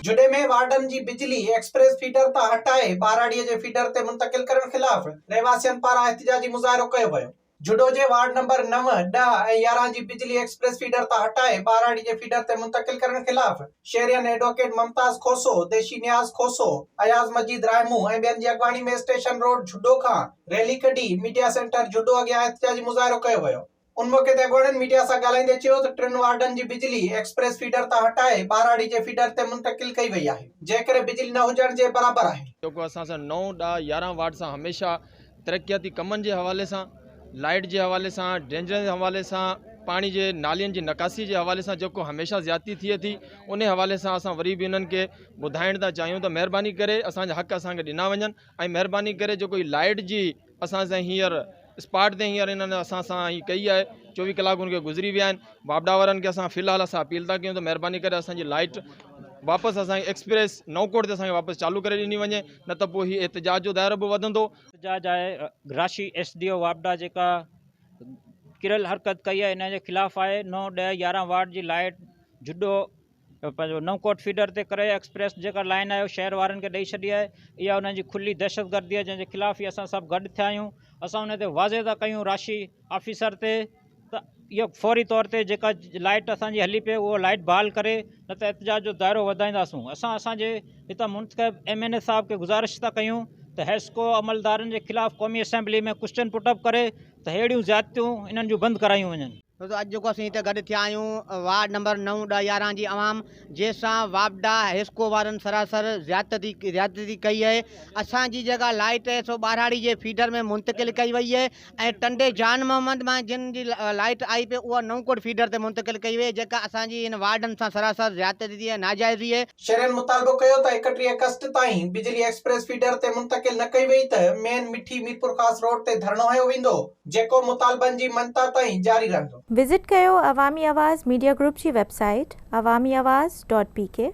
جوڏي ۾ وارڊن جي بجلي ايڪسپريس فيڊر تان هٽائي ٻهراڙيء جي فيڊر تي منتقل ڪرڻ خلاف رهواسين پاران احتجاجي مظاهرو ڪيو ويو. جوڏو جي وارڊ نمبر نو، ڏهه ۽ يارهن جي بجلي ايڪسپريس فيڊر تان هٽائي ٻهراڙي جي فيڊر تي منتقل ڪرڻ خلاف شهرين ايڊووڪيٽ ممتاز کوسو، ديشي نياز کوسو، اياز مجيد راهمون ۽ ٻين جي اڳواڻي ۾ اسٽيشن روڊ جوڏو کان ريلي ڪڍي ميڊيا سينٽر جوڏو اڳيان احتجاجي مظاهرو ڪيو ويو. ان موقعي تي اڳواڻن ميڊيا سان ڳالهائيندي چيو ته ٽن وارڊن جي بجلي ايڪسپريس فيڊر تان هٽائي ٻهراڙي جي فيڊر تي منتقل ڪئي وئي آهي جنهن ڪري بجلي نه هجڻ جي برابر آهي. جيڪو اسان سان نو، ڏهه، يارهن وارڊ سان هميشه ترقياتي ڪمن جي حوالي سان لائيٽ جي حوالي سان ڊرينجن جي حوالي سان پاڻي جي نالين جي نڪاسي جي حوالي سان جيڪو هميشه زيادتي ٿئي ٿي انهي حوالي سان اسان وري به انهن کي ٻڌائڻ ٿا چاهيون ته مهرباني ڪري اسان جا حق اسان کي ڏنا وڃن ۽ مهرباني ڪري جيڪو هي لائيٽ جي اسان سان هينئر اسپاٽ تي هينئر انهن اسان سان هي ڪئي آهي چوويهه ڪلاڪ ان کي گذري ويا آهن واپڊا وارن کي اسان في الحال اسان اپيل ٿا ڪيون ته مهرباني ڪري اسان جي لائٽ واپس اسان ايڪسپريس نو ڪوٽ تي اسان کي واپس چالو ڪري ڏني وڃي نه ته پوء هي احتجاج جو دائرو به وڌندو احتجاج آهي گراشي ايس ڊي او واپڊا جيڪا ڪريل حرڪت ڪئي آهي ان جي خلاف آهي نو ڏهه يارهن وارڊ جي لائٽ جڏو پنهنجو نئون ڪوٽ فيڊر تي ڪري ايڪسپريس جيڪا لائن آهي شهر وارن کي ڏئي ڇڏي آهي اها انهن جي کلي دهشت گردي آهي جنهن جي خلاف ئي اسان سڀ گڏ ٿيا آهيون اسان ان تي واضح ٿا ڪيون راشي آفيسر تي ته اهو فوري طور تي جيڪا لائٽ اسان جي هلي پئي اهو لائٽ بحال ڪري نه ته احتجاج جو دائرو وڌائينداسون اسان اسان جي هتان منتخب ايم اين اي صاحب کي گذارش ٿا ڪيون ته حيسڪو عملدارن جي خلاف قومي اسيمبلي ۾ ڪوشچن پٽ اپ ڪري ته ههڙيون زيادتيون انهن جون بند ڪرايون وڃن دوستو اڄ جيڪو اسين هتي گڏ ٿيا آهيون وارڊ نمبر نو ڏهه يارهن جي عوام جنهن سان واپڊا حيسڪو وارن سراسر زيادتي زيادتي ڪئي آهي اسان جي جيڪا لائٽ آهي سو ٻاراڙي جي فيڊر ۾ منتقل ڪئي وئي آهي ۽ ٽنڊي جان محمد مان جن جي لائٽ آئي پئي اها نئون ڪوٽ فيڊر تي منتقل ڪئي وئي آهي جيڪا اسان جي هن وارڊن سان سراسر زيادتي ۽ ناجائزي آهي شهرين مطالبو ڪيو ته ايڪٽيهه اگسٽ تائين بجلي ايڪسپريس فيڊر تي منتقل نه ڪئي وئي ته مين مٺي ميرپورخاص روڊ تي ڌرڻو هنيو ويندو. جيڪو مطالبن جي منتهه تائين جاري رهندو. وزٽ ڪيو عوامي آواز ميڊيا گروپ جي website Awami Awaz dot P ڪي.